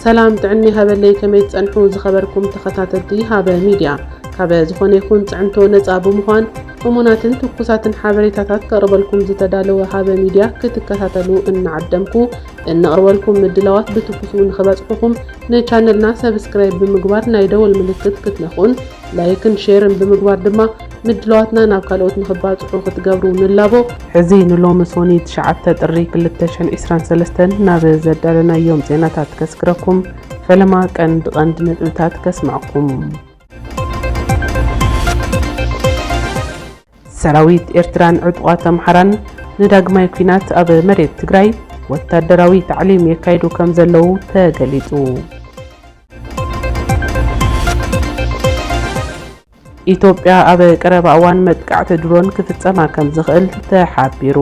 ሰላም ጥዕና ይሃበለይ ከመይ ትጸንሑ ዝኸበርኩም ተኸታተልቲ ሃበ ሚድያ ካበ ዝኾነ ይኹን ጽዕንቶ ነጻ ብምዃን እሙናትን ትኩሳትን ሓበሬታታት ከቕርበልኩም ዝተዳለወ ሃበ ሚድያ ክትከታተሉ እናዓደምኩ እነቕርበልኩም ምድላዋት ብትኩሱ ንኽበጽሑኹም ንቻነልና ሰብስክራይብ ብምግባር ናይ ደወል ምልክት ክትነኹን ላይክን ሼርን ብምግባር ድማ ምድላዋትና ናብ ካልኦት ንኽባጽሑ ክትገብሩ ንላቦ። ሕዚ ንሎሚ ሶኒ ትሽዓተ ጥሪ ክልተ ሽሕን ዒስራን ሰለስተን ናብ ዘዳለናዮም ዜናታት ከስግረኩም፣ ፈለማ ቀንዲ ቀንዲ ነጥብታት ከስምዐኩም። ሰራዊት ኤርትራን ዕጡቓት ኣምሓራን ንዳግማይ ኲናት ኣብ መሬት ትግራይ ወታደራዊ ታዕሊም የካይዱ ከም ዘለዉ ተገሊጹ። ኢትዮጵያ ኣብ ቀረባ እዋን መጥቃዕቲ ድሮን ክፍጸማ ከም ዝኽእል ተሓቢሩ።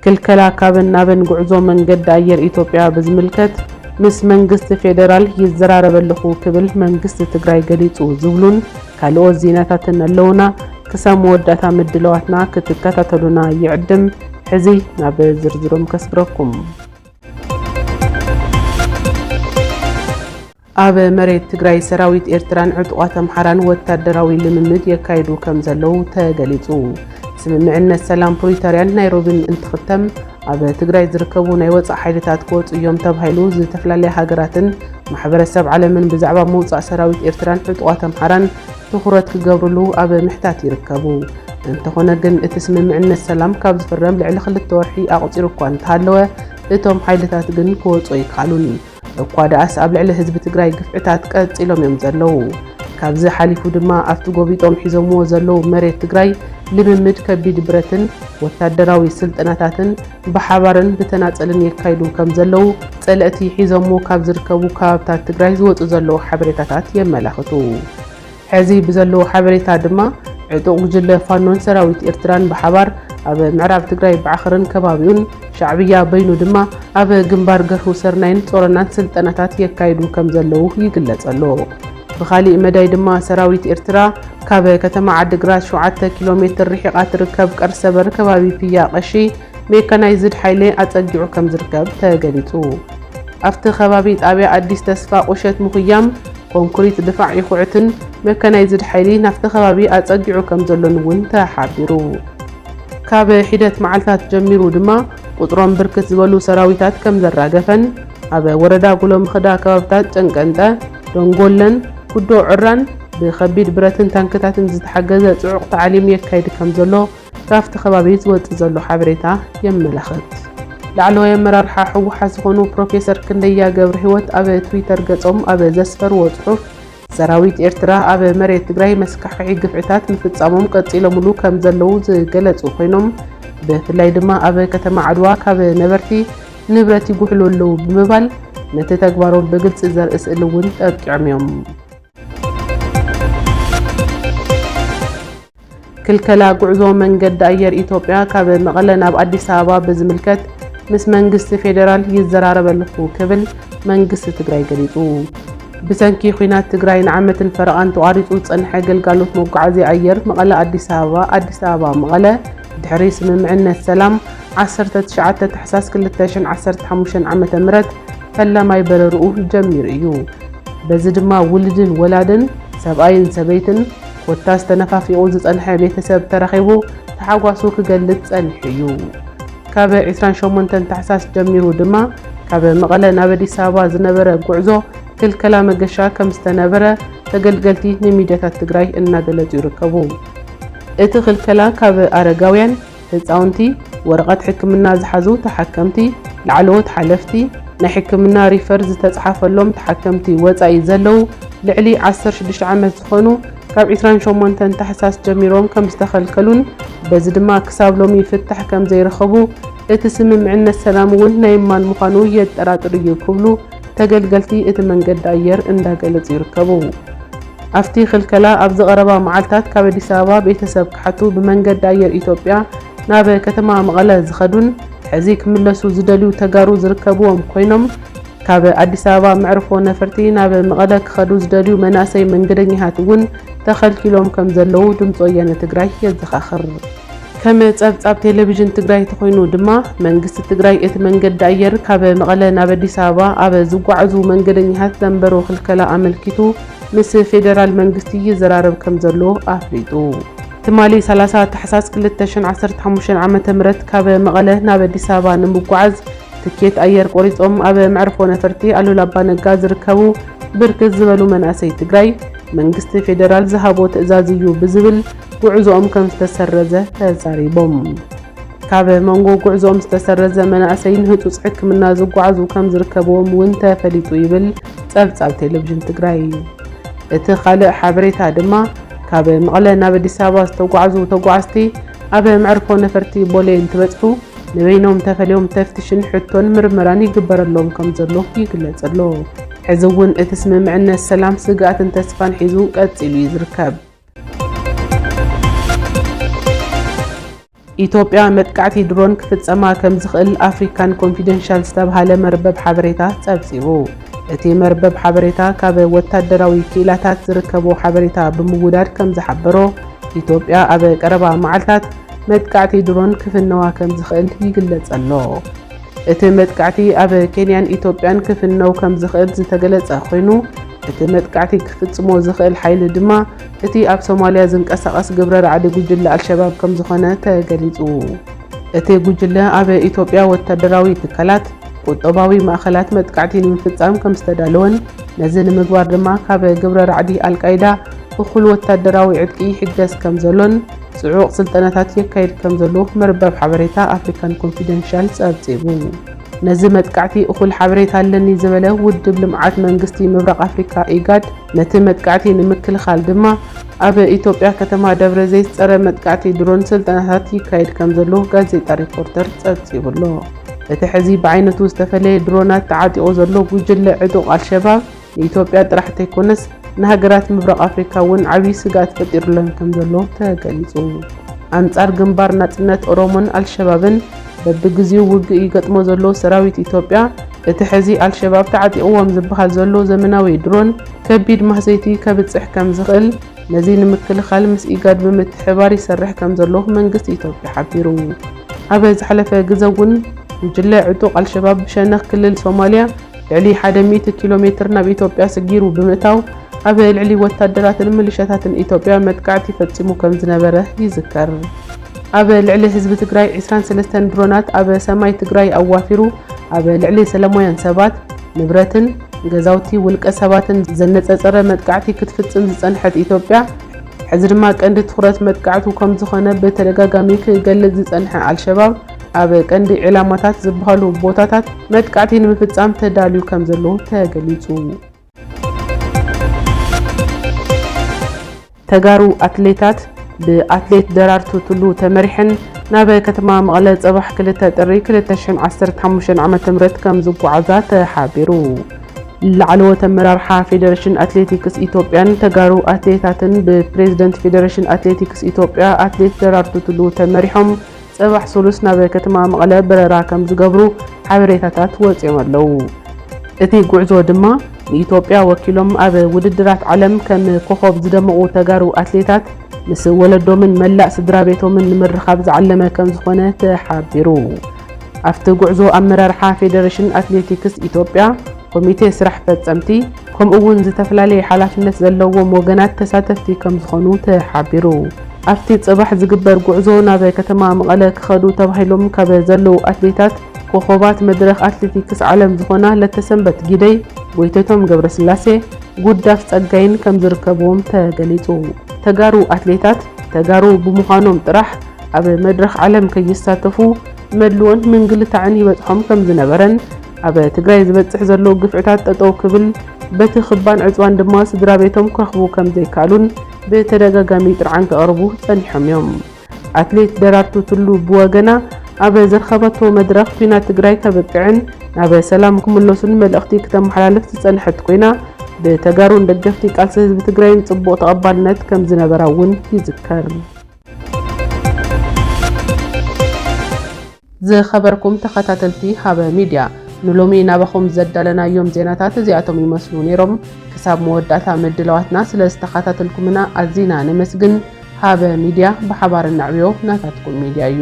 ክልከላ ካብን ናብን ጉዕዞ መንገዲ ኣየር ኢትዮጵያ ብዝምልከት ምስ መንግስቲ ፌዴራል ይዘራረብ ኣለኹ ክብል መንግስቲ ትግራይ ገሊፁ ዝብሉን ካልኦት ዜናታትን ኣለውና። ክሳብ መወዳእታ ምድለዋትና ክትከታተሉና ይዕድም። ሕዚ ናብ ዝርዝሮም ከስግረኩም። ኣብ መሬት ትግራይ ሰራዊት ኤርትራን ዕጡቓት ኣምሓራን ወታደራዊ ልምምድ የካይዱ ከም ዘለዉ ተገሊጹ። ስምምዕነት ሰላም ፕሪቶርያን ናይሮቢን እንትኽተም ኣብ ትግራይ ዝርከቡ ናይ ወፃእ ሓይልታት ክወፁ እዮም ተባሂሉ ዝተፈላለያ ሃገራትን ማሕበረሰብ ዓለምን ብዛዕባ ምውፃእ ሰራዊት ኤርትራን ዕጡቓት ኣምሓራን ትኹረት ክገብርሉ ኣብ ምሕታት ይርከቡ። እንተኾነ ግን እቲ ስምምዕነት ሰላም ካብ ዝፍረም ልዕሊ ክልተ ወርሒ ኣቑፂሩ እኳ እንተሃለወ እቶም ሓይልታት ግን ክወፁ ኣይከኣሉን። እኳ ደኣስ ኣብ ልዕሊ ህዝቢ ትግራይ ግፍዕታት ቀፂሎም እዮም ዘለዉ። ካብዚ ሓሊፉ ድማ ኣብቲ ጎቢጦም ሒዞምዎ ዘለዉ መሬት ትግራይ ልምምድ ከቢድ ብረትን ወታደራዊ ስልጠናታትን ብሓባርን ብተናፀልን የካይዱ ከም ዘለዉ ፀለእቲ ሒዞምዎ ካብ ዝርከቡ ከባብታት ትግራይ ዝወፁ ዘለዉ ሓበሬታታት የመላኽቱ። ሐዚ ብዘለዎ ሓበሬታ ድማ ዕጡቕ ጉጅለ ፋኖን ሰራዊት ኤርትራን ብሓባር ኣብ ምዕራብ ትግራይ ባዕኽርን ከባቢኡን፣ ሻዕብያ በይኑ ድማ ኣብ ግንባር ገርሁ ሰርናይን ጾሮናን ስልጠናታት የካይዱ ከምዘለዉ ይግለጽ ኣሎ። ብኻሊእ መዳይ ድማ ሰራዊት ኤርትራ ካብ ከተማ ዓዲግራት ሸውዓተ ኪሎ ሜትር ርሒቓ ትርከብ ቀርሰበር ከባቢ ፒያ ቀሺ ሜካናይዝድ ሓይሊ ኣጸጊዑ ከምዝርከብ ተገሊጹ። ኣብቲ ከባቢ ጣብያ ኣዲስ ተስፋ ቁሸት ምኹያም፣ ኮንክሪት ድፋዕ ይኹዕትን መካናይዝድ ሓይሊ ናብቲ ከባቢ ኣፀጊዑ ከምዘሎን እውን ተሓቢሩ። ካብ ሒደት መዓልታት ጀሚሩ ድማ ቁፅሮም ብርክት ዝበሉ ሰራዊታት ከምዘራገፈን ኣብ ወረዳ ጉሎምኽዳ ከባብታት ጨንቀንጠ፣ ደንጎለን፣ ኩዶ ዑራን ብከቢድ ብረትን ታንክታትን ዝተሓገዘ ፅዑቕ ታዕሊም የካይድ ከምዘሎ ካብቲ ከባቢ ዝወፅእ ዘሎ ሓበሬታ የመላኽት። ላዕለዋይ ኣመራርሓ ህወሓት ዝኾኑ ፕሮፌሰር ክንደያ ገብረሂወት ኣብ ትዊተር ገፆም ኣብ ዘስፈርዎ ፅሑፍ ሰራዊት ኤርትራ ኣብ መሬት ትግራይ መስካሕኽሒ ግፍዕታት ምፍፃሞም ቀፂሎምሉ ከምዘለዉ ዝገለፁ ኮይኖም ብፍላይ ድማ ኣብ ከተማ ዓድዋ ካብ ነበርቲ ንብረት ይጉሕሉ ኣለዉ ብምባል ነቲ ተግባሮም ብግልፂ ዘርኢ ስእሊ እውን ጠቂዖም እዮም። ክልከላ ጉዕዞ መንገዲ ኣየር ኢትዮጵያ ካብ መቐለ ናብ ኣዲስ ኣበባ ብዝምልከት ምስ መንግስቲ ፌዴራል ይዘራረብ ኣለኹ ክብል መንግስቲ ትግራይ ገሊፁ። ብሰንኪ ኲናት ትግራይ ንዓመትን ፈረቓን ተቋሪፁ ዝፀንሐ ግልጋሎት መጓዓዝያ ኣየር መቐለ ኣዲስ ኣበባ፣ ኣዲስ ኣበባ መቐለ ድሕሪ ስምምዕነት ሰላም ዓሰርተ ትሽዓተ ታሕሳስ ክልተ ሽሕን ዓሰርተ ሓሙሽተን ዓመተ ምህረት ፈላማይ በረርኡ ጀሚሩ እዩ። በዚ ድማ ውልድን ወላድን፣ ሰብኣይን ሰበይትን፣ ኮታስ ተነፋፊቑ ዝጸንሐ ቤተሰብ ተራኺቡ ታሕጓሱ ክገልጽ ጸኒሑ እዩ። ካብ ዕስራን ሸሞንተን ታሕሳስ ጀሚሩ ድማ ካብ መቐለ ናብ ኣዲስ ኣበባ ዝነበረ ጉዕዞ ክልከላ መገሻ ከም ዝተነበረ ተገልገልቲ ንሚድያታት ትግራይ እናገለጹ ይርከቡ። እቲ ክልከላ ካብ ኣረጋውያን፣ ህፃውንቲ፣ ወረቐት ሕክምና ዝሓዙ ተሓከምቲ፣ ላዕለዎት ሓለፍቲ፣ ናይ ሕክምና ሪፈር ዝተፅሓፈሎም ተሓከምቲ ወፃኢ ዘለው ልዕሊ ዓሰርተ ሽዱሽተ ዓመት ዝኾኑ ካብ ዕስራን ሸሞንተን ታሕሳስ ጀሚሮም ከምዝተኸልከሉን በዚ ድማ ክሳብ ሎሚ ፍታሕ ከምዘይረኸቡ እቲ ስምምዕነት ሰላም እውን ናይ ማን ምዃኑ የጠራጥር እዩ ክብሉ ተገልገልቲ እቲ መንገዲ ኣየር እንዳገለፁ ይርከቡ። ኣፍቲ ክልከላ ኣብዚ ቀረባ መዓልታት ካብ ኣዲስ ኣበባ ቤተሰብ ክሓቱ ብመንገዲ ኣየር ኢትዮጵያ ናብ ከተማ መቐለ ዝኸዱን ሕዚ ክምለሱ ዝደልዩ ተጋሩ ዝርከብዎም ኮይኖም ካብ ኣዲስ ኣበባ መዕርፎ ነፈርቲ ናብ መቐለ ክኸዱ ዝደልዩ መናእሰይ መንገደኛታት እውን ተኸልኪሎም ከምዘለዉ ድምፂ ወያነ ትግራይ የዘኻኽር። ከም ፀብፃብ ቴሌቪዥን ትግራይ ተኾይኑ ድማ መንግስቲ ትግራይ እቲ መንገዲ ኣየር ካብ መቐለ ናብ ኣዲስ ኣበባ ኣብ ዝጓዓዙ መንገደኛታት ዘንበሮ ክልከላ ኣመልኪቱ ምስ ፌዴራል መንግስቲ ይዘራረብ ከምዘሎ ኣፍሊጡ። ትማሊ ሰላሳ ታሕሳስ ክልተ ሽሕን ዓሰርተ ሓሙሽተን ዓመተ ምህረት ካብ መቐለ ናብ ኣዲስ ኣበባ ንምጉዓዝ ትኬት ኣየር ቆሪፆም ኣብ መዕርፎ ነፈርቲ ኣሉላ ኣባነጋ ዝርከቡ ብርክት ዝበሉ መናእሰይ ትግራይ መንግስቲ ፌዴራል ዝሃቦ ትእዛዝ እዩ ብዝብል ጉዕዞኦም ከምዝተሰረዘ ተዛሪቦም። ካብ መንጎ ጉዕዞኦም ዝተሰረዘ መናእሰይ ንህፁፅ ሕክምና ዝጓዓዙ ከምዝርከብዎም እውን ተፈሊጡ ይብል ፀብፃብ ቴሌቪዥን ትግራይ። እቲ ካልእ ሓበሬታ ድማ ካብ መቐለ ናብ ኣዲስ ኣበባ ዝተጓዕዙ ተጓዓዝቲ ኣብ መዕርፎ ነፈርቲ ቦሌ እንትበፅሑ ንበይኖም ተፈልዮም ተፍትሽን ሕቶን ምርመራን ይግበረሎም ከምዘሎ ይግለፅ ኣሎ። ሕዚ እውን እቲ ስምምዕነት ሰላም ስግኣትን ተስፋን ሒዙ ቀፂሉ እዩ ዝርከብ። ኢትዮጵያ መጥቃዕቲ ድሮን ክፍጸማ ከም ዝኽእል ኣፍሪካን ኮንፊደንሻል ዝተብሃለ መርበብ ሓበሬታ ጸብጺቡ። እቲ መርበብ ሓበሬታ ካብ ወታደራዊ ክኢላታት ዝርከቦ ሓበሬታ ብምውዳድ ከም ዝሓበሮ፣ ኢትዮጵያ ኣብ ቀረባ መዓልታት መጥቃዕቲ ድሮን ክፍነዋ ከም ዝኽእል ይግለጸ ኣሎ። እቲ መጥቃዕቲ ኣብ ኬንያን ኢትዮጵያን ክፍነው ከም ዝኽእል ዝተገለጸ ኮይኑ፣ እቲ መጥቃዕቲ ክፍጽሞ ዝኽእል ሓይሊ ድማ እቲ ኣብ ሶማልያ ዝንቀሳቐስ ግብረ ራዕዲ ጉጅለ ኣልሸባብ ከም ዝኾነ ተገሊጹ። እቲ ጉጅለ ኣብ ኢትዮጵያ ወታደራዊ ትካላት፣ ቁጠባዊ ማእኸላት መጥቃዕቲ ንምፍጻም ከም ዝተዳለወን ነዚ ንምግባር ድማ ካብ ግብረ ራዕዲ ኣልቃይዳ እኹል ወታደራዊ ዕጥቂ ይሕገዝ ከም ዘሎን ጽዑቕ ስልጠናታት የካይድ ከምዘሎ መርበብ ሓበሬታ ኣፍሪካን ኮንፊደንሻል ጸብጺቡ። ነዚ መጥቃዕቲ እኹል ሓበሬታ ኣለኒ ዝበለ ውድብ ልምዓት መንግስቲ ምብራቕ ኣፍሪካ ኢጋድ ነቲ መጥቃዕቲ ንምክልኻል ድማ ኣብ ኢትዮጵያ ከተማ ደብረ ዘይት ጸረ መጥቃዕቲ ድሮን ስልጠናታት ይካየድ ከምዘሎ ጋዜጣ ሪፖርተር ጸብጺቡ ኣሎ። እቲ ሕዚ ብዓይነቱ ዝተፈለየ ድሮናት ተዓጢቑ ዘሎ ጉጅለ ዕጡቕ ኣልሸባብ ንኢትዮጵያ ጥራሕ እንተይኮነስ ንሃገራት ምብራቕ ኣፍሪካ እውን ዓብዪ ስግኣት ፈጢሩለን ከምዘሎ ተገሊፁ። ኣንፃር ግንባር ናፅነት ኦሮሞን ኣልሸባብን በቢግዚኡ ውግእ ይገጥሞ ዘሎ ሰራዊት ኢትዮጵያ እቲ ሕዚ ኣልሸባብ ተዓጢቕዎም ዝበሃል ዘሎ ዘመናዊ ድሮን ከቢድ ማህሰይቲ ከብፅሕ ከምዝኽእል ነዚ ንምክልኻል ምስ ኢጋድ ብምትሕብባር ይሰርሕ ከምዘሎ መንግስቲ ኢትዮጵያ ሓቢሩ። ኣብ ዝሓለፈ ግዘ እውን ጉጅለ ዕጡቕ ኣልሸባብ ብሸነኽ ክልል ሶማሊያ ልዕሊ ሓደ ሚእቲ ኪሎ ሜትር ናብ ኢትዮጵያ ስጊሩ ብምእታው ኣብ ልዕሊ ወታደራትን ምልሻታትን ኢትዮጵያ መጥቃዕቲ ፈፂሙ ከምዝነበረ ይዝከር። ኣብ ልዕሊ ህዝቢ ትግራይ ዕስራን ሰለስተን ድሮናት ኣብ ሰማይ ትግራይ ኣዋፊሩ ኣብ ልዕሊ ሰለማውያን ሰባት፣ ንብረትን ገዛውቲ ውልቀ ሰባትን ዘነፀፀረ መጥቃዕቲ ክትፍፅም ዝፀንሐት ኢትዮጵያ፣ ሕዚ ድማ ቀንዲ ትኹረት መጥቃዕቱ ከምዝኾነ ብተደጋጋሚ ክገልፅ ዝፀንሐ ኣልሸባብ፣ ኣብ ቀንዲ ዒላማታት ዝበሃሉ ቦታታት መጥቃዕቲ ንምፍፃም ተዳልዩ ከም ዘሎ ተገሊፁ። ተጋሩ ኣትሌታት ብኣትሌት ደራርቱ ቱሉ ተመሪሐን ናብ ከተማ መቐለ ፅባሕ 2 ጥሪ 2015 ዓ ም ከም ዝጓዓዛ ተሓቢሩ። ላዕለዎት ኣመራርሓ ፌዴሬሽን ኣትሌቲክስ ኢትዮጵያን ተጋሩ ኣትሌታትን ብፕሬዝደንት ፌዴሬሽን ኣትሌቲክስ ኢትዮጵያ ኣትሌት ደራርቱ ቱሉ ተመሪሖም ፅባሕ ሱሉስ ናብ ከተማ መቐለ በረራ ከምዝገብሩ ሓበሬታታት ወፂኦም ኣለው። እቲ ጉዕዞ ድማ ንኢትዮጵያ ወኪሎም ኣብ ውድድራት ዓለም ከም ኮኾብ ዝደመቑ ተጋሩ ኣትሌታት ምስ ወለዶምን መላእ ስድራቤቶምን ንምርኻብ ዝዓለመ ከምዝኾነ ተሓቢሩ። ኣብቲ ጉዕዞ ኣመራርሓ ፌዴሬሽን ኣትሌቲክስ ኢትዮጵያ፣ ኮሚቴ ስራሕ ፈፀምቲ፣ ከምኡ እውን ዝተፈላለየ ሓላፍነት ዘለዎም ወገናት ተሳተፍቲ ከምዝኾኑ ተሓቢሩ። ኣብቲ ፅባሕ ዝግበር ጉዕዞ ናብ ከተማ መቐለ ክኸዱ ተባሂሎም ካብ ዘለዉ ኣትሌታት ኮኾባት መድረኽ ኣትሌቲክስ ዓለም ዝኾና ለተሰንበት ጊደይ፣ ጎይተቶም ገብረስላሴ፣ ጉዳፍ ፀጋይን ከምዝርከብዎም ተገሊፁ። ተጋሩ ኣትሌታት ተጋሩ ብምዃኖም ጥራሕ ኣብ መድረኽ ዓለም ከይሳተፉ መድልዎን ምንግልታዕን ይበፅሖም ከምዝነበረን፣ ኣብ ትግራይ ዝበፅሕ ዘሎ ግፍዕታት ጠጠው ክብል በቲ ክባን ዕፅዋን ድማ ስድራ ቤቶም ክረኽቡ ከምዘይከኣሉን ብተደጋጋሚ ጥርዓን ከቕርቡ ፀኒሖም እዮም። ኣትሌት ደራርቱ ቱሉ ብወገና ኣብ ዘርኸበቶ መድረኽ ኲናት ትግራይ ከብቅዕን ናብ ሰላም ክምለሱን መልእኽቲ ክተመሓላልፍ ዝፀንሐት ኮይና ብተጋሩን ደገፍቲ ቃልሲ ህዝቢ ትግራይን ፅቡቕ ተቐባልነት ከምዝነበራ እውን ይዝከር። ዝኸበርኩም ተኸታተልቲ ሃበ ሚድያ ንሎሚ ናባኹም ዘዳለናዮም ዜናታት እዚኣቶም ይመስሉ ነይሮም። ክሳብ መወዳእታ ምድላዋትና ስለ ዝተኸታተልኩምና ኣዚና ነመስግን። ሃበ ሚድያ ብሓባር ነዕብዮ ናታትኩም ሚድያ እዩ።